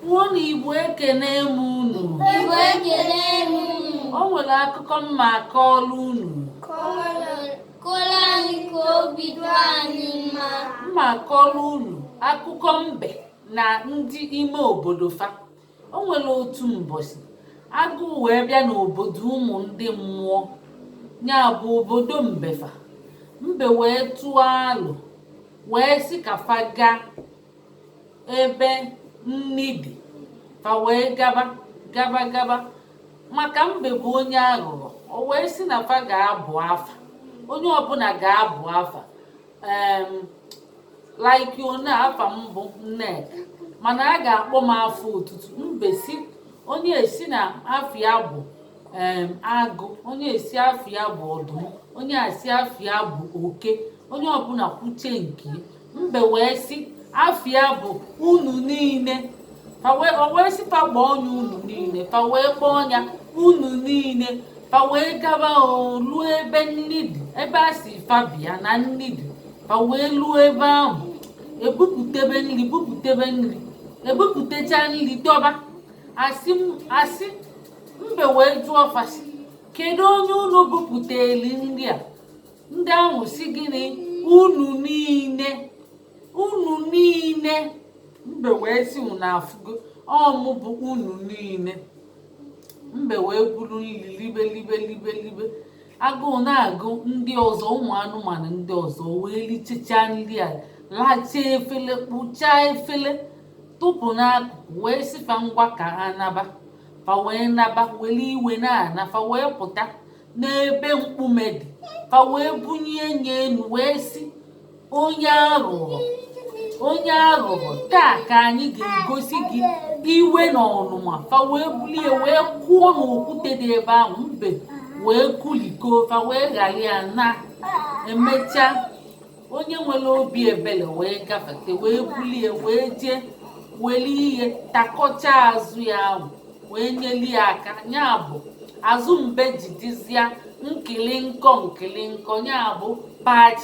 Kwuonu Igbo ekene m unu. Igbo ekene m unu. O nwere akụkọ m ma-akọọlụ unu. Kọọlụ anyị ka obi dị anyị mma. M ma-akọọlụ unu akụkọ mbe na ndị ime obodo fa. O nwere otu mbọchị agụụ wee bịa n'obodo ụmụ ndị mmụọ ya bụ obodo mbe fa mbe wee tụọ alo wee sị ka fa gaa ebe nni dị fa wee gaba gaba gaba maka mbe bụ onye aghụghọ o wee sị na fa ga-abụ afa onye ọbụla ga-abụ afa em like ọ na afa m bụ Nneka mana a ga-akpọ m afa otutu mbe sị onye a sị na afa ya bụ em agụ onye a sị afa ya bụ ọdụm onye a sị afa ya bụ oke onye ọbụla kwuche nke ya. mbe wee sị afa ya bụ unu niile fa wee o wee sị fa kpọọ nya unu niile fa wee kpọọ nya unu niile fa wee gaba o luo ebe nni dị ebe a sị fa bịa na nni dị fa wee luo ebe ahụ e bupụtebe nri bupụtebe nri e bupụtecha nri dọba asị m- asị mbe wee jụọ fa sị kedu onye unu bupụteli nri a ndị ahụ sị gịnị unu niile unu niile mbe wee sị unu afụgo ọ mụ bụ unu niile mbe wee buru nri libe libe libe libe agụụ na-agụ ndị ọzọ ụmụ anụmanụ ndị ọzọ wee lichichaa nri a lachaa efele kpụchaa efele tụpụ n'akụkụ wee sị fa ngwa ka ha naba fa wee naba were iwe na-ana fa wee pụta n'ebe mkpume dị fa wee bunie nya enu wee sị onye aghụghọ onye aghụghọ taa ka anyị ga-egosi gị iwe na ọnụma fa wee bulie wee kụọ n'okwute dị ebe ahụ mbe wee kụlịkọọ fa wee ghara ya naa e mechaa onye nwere obi ebele wee gafete wee bulie wee jee weli ihe takọcha azụ ya ahụ wee nyeli ya aka ya bụ azụ mbe ji dịzịa nkịlịnkọ nkịlịnkọ ya bụ patch